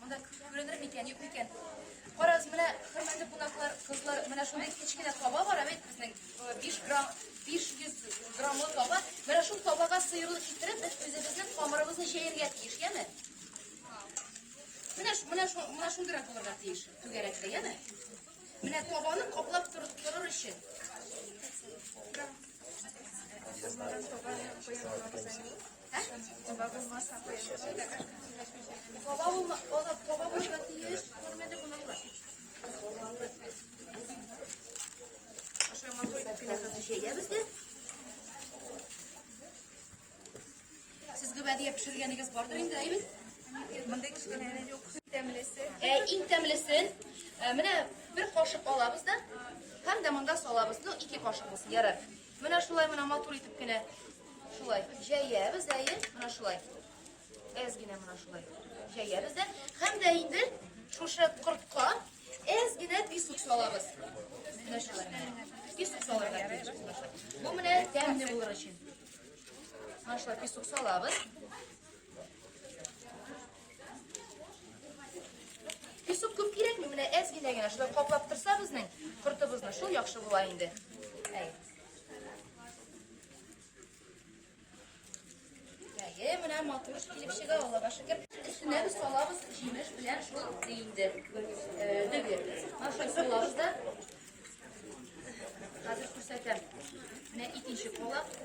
Монда күренер микән, юк микән? Карагыз, менә хөрмәтле кунаклар, кызлар, менә шундый кечкенә таба бар бит безнең 5 грамм 500 граммлы таба. Менә шул табага сыерлык китереп, без үзебезнең камырыбызны җәяргә тиеш, яме? Менә менә шу менә шундыйрак булырга тиеш, түгәрәкле, яме? Менә табаны каплап торып торыр өчен. Кызларым табаны куя Сезгә бәдия пешергәнегез бардыр инде, әйбит? Монда кешеләре юк. Тәмлесе. Ә иң тәмлесен менә бер кашык алабыз да, һәм дә монда салабыз. Ну, ике кашык булсын, ярар. Менә шулай менә матур итеп кенә шулай җәябез дә, әйе, менә шулай. Әз генә менә шулай җәябез дә. Һәм дә инде шушы кортка әз генә песок салабыз. Менә шулай. Песок салырга кирәк. Бу менә тәмле булыр өчен. Менә шулай песок салабыз. Песок күп кирәкми, менә әз генә генә шулай каплап торса безнең кортыбызны, шул яхшы була инде. Әй. Әйе, менә матур килеп чыга, Аллага шөкер. Өстенә без салабыз җимеш белән шул ди инде. Э, Дөге. Наша салабыз да. Хәзер күрсәтәм. Менә икенче колак.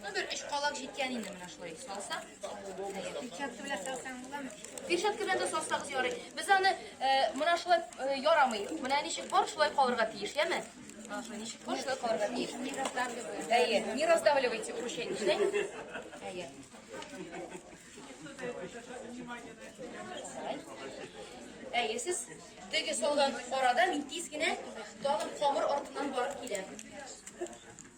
Ну, бер өч калак җиткән инде менә шулай салсак. Перчатка белән салсаң буламы? Перчатка белән дә салсагыз ярый. Без аны э, менә шулай э, ярамый. Менә ничек бар, шулай калырга тиеш, яме? Менә шулай ничек бар, шулай калырга тиеш. Не раздавливай. Әйе, не раздавливайте уручение. Ишетәме? Әйе. Әйе, сез теге салган арада мин тиз генә тагын камыр артыннан барып киләм.